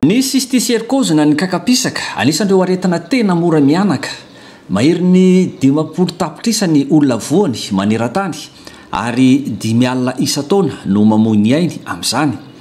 Ny cysticercose na ny kaka-pisaka, anisan'ireo aretina tena mora mihanaka. Maherin'ny dimampolo tapitrisa ny olona voany maneran-tany, ary dimy alina isan-taona no mamoy ny ainy amin'izany.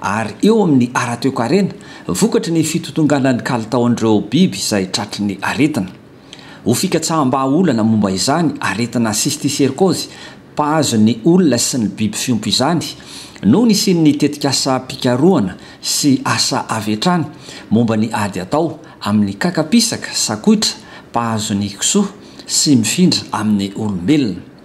ary eo amin'ny ara-toekarena vokatry ny fitotonganan'ny kalitaon'ireo biby izay tratry ny aretina. Ho fikatsaham-bahaolana momba izany aretina cysticercose mpahazo ny olona sy ny biby fiompy izany no nisian'ny tetikasam-pikarohana sy asa avy hatrany momba ny ady atao amin'ny kakapisaka sakoitra mpahazo ny kisoa sy mifindra amin'ny olombelona.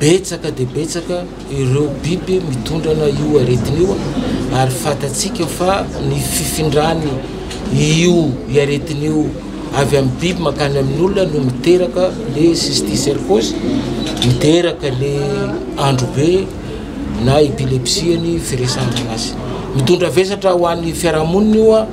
Betsaka dia betsaka ireo biby mitondrana io aretina io ary fantatsika fa ny fifindran'ny io aretina io avy amin'ny biby mankany amin'ny olona no miteraka le cysticercose, miteraka le androbe na epilepsie ny firesahana azy. Mitondra vesatra ho an'ny fiarahamonina io.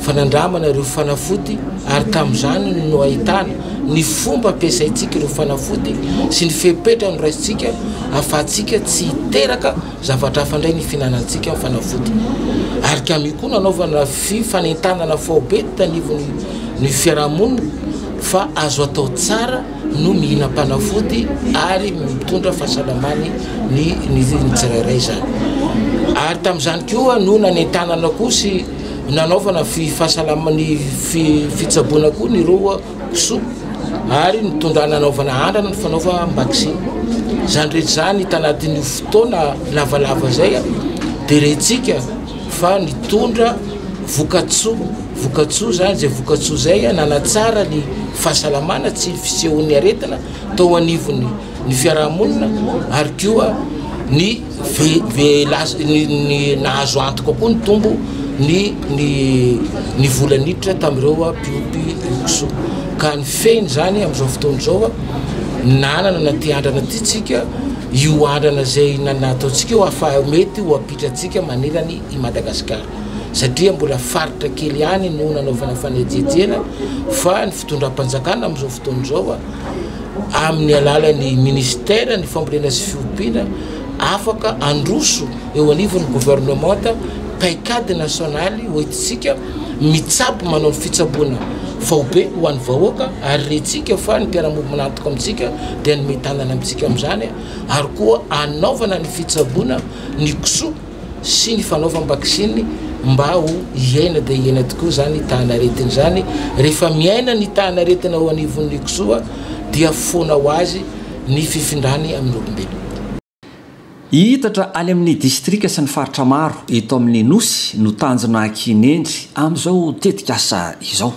fanandramana ireo fanafody ary tamin'izany no ahitana ny fomba ampiasaintsika ireo fanafody sy ny fepetra noraisintsika ahafahantsika tsy hiteraka zavatra hafa indray ny fihinanantsika ny fanafody ary kami koa nanaovana fifanentanana faobe tanivony ny fiarahamonina fa azo atao tsara no mihinam-panafody ary mitondra fahasalamany ny ny tsirairay izany ary tamin'izany koa no nanentanana koa sy Nanaovana fahasalama ny fitsaboana koa ny roa kisoa ary nitondrana hanaovana andrana ny fanaovam-baksiny. Izany rehetra izany hita anatin'io fotoana lavalava izay dia rentsika fa nitondra vokatsoa vokatsoa izany izay vokatsoa izay nanatsara ny fahasalamana tsy ny fisehon'ny aretina tao anivon'ny ny fiarahamonina ary koa ny Nahazo antoka koa ny tombo ny ny vola niditra tamin'ireo mpiompy oso ka ny fehiny izany amin'izao fotoana izao nanana na ity andrana ity tsika io andrana izay nataontsika io afa mety ho ampitratsika manerany i Madagasikara satria mbola faritra kely ihany no nanaovana fanejejena fa ny fitondram-panjakana amin'izao fotoana izao amin'ny alalan'ny Ministera ny fambolena sy fiompiana afaka handroso eo anivon'ny governemanta paikady nasionaly hoentintsika mitsabo manao ny fitsaboana faobe ho an'ny vahoaka ary rentsika fa ny mpiara-monina antoka amintsika dia ny mitanana amintsika amin'izany ary koa anaovana ny fitsaboana ny kisoa sy ny fanaovam-baksiny mba ho hiaina dia hiaina tokoa izany tahan'aretina izany. Rehefa miaina ny tahan'aretina ao anivon'ny kisoa dia foana ho azy ny fifindrany amin'ny olombelona. Hihitatra any amin'ny distrika sy ny faritra maro eto amin'ny Nosy no tanjona kinendry amin'izao tetikasa izao.